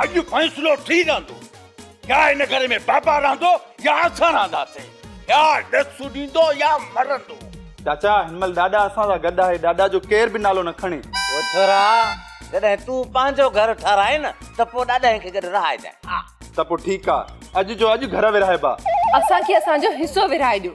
اڄ فيصلو ٿي رهندو يا هن گهر ۾ بابا رهندو يا اسان رهنداسين يا ڏس سڏيندو يا مرندو. چاچا هن مهل ڏاڏا اسان سان گڏ آهي ڏاڏا جو ڪير به نالو نه کڻي. او ڇورا جڏهن تون پنهنجو گهر ٺهرائين نه ته پوء ڏاڏائين کي گڏ رهائجانء ها. ته پوء ٺيڪ آ اڄ جو اڄ گهر ورهائبا. اسان کي اسان جو حصو ورهائي ڏيو.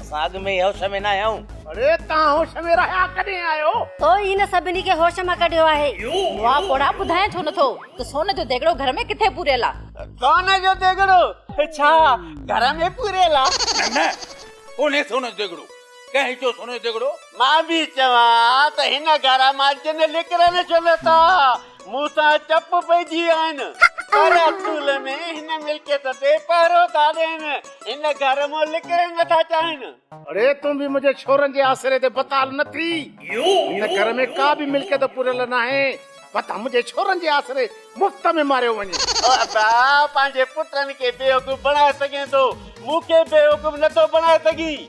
اسان اڳ ۾ ئي هوش ۾ ناهي آهيون. اڙي توهان هوش ۾ رهيا ڪڏهن آهيو؟ تو ئي هن سڀني کي هوش مان ڪڍيو آهي. وا پوڙها ٻڌائين ڇو نٿو ته سون جو ديڳڙو گهر ۾ ڪٿي پوريل آ. سون جو ديڳڙو ڇا گهر ۾ پوريل آ. نه نه ڪونهي سون جو ديڳڙو. ڪنهن چيو سون جو ديڳڙو. مان به چوان ته هن گهر مان جن لڪرن ڇو نه ٿا. مون سان چپ پئجي ويائين. پر اصول ۾ هن ملڪيت تي پهرو ٿا ڏين. هن گهر مان لڪڻ نٿا چاهين. اڙي تون به منهنجي ڇورن جي آسري تي بتال نه ٿي. هن گهر ۾ ڪا به ملڪيت پوريل ناهي. متان منهنجي ڇورن جي آسري مفت ۾ ماريو وڃي. او ابا پنهنجي پٽن کي بيوقوف بڻائي سگهين ٿو. مون کي بيوقوف نٿو بڻائي سگهين.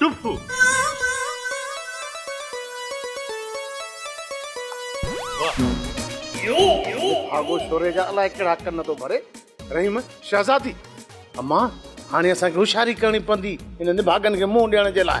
ڊپو. ڀاڳو شوري جا الائي ڪهڙا ڪن ٿو ڀري. رحيم، شهزادي! اما، هاڻي اسان کي هوشياري ڪرڻي پوندي هن نڀاڳن کي منهن ڏيڻ جي لاء.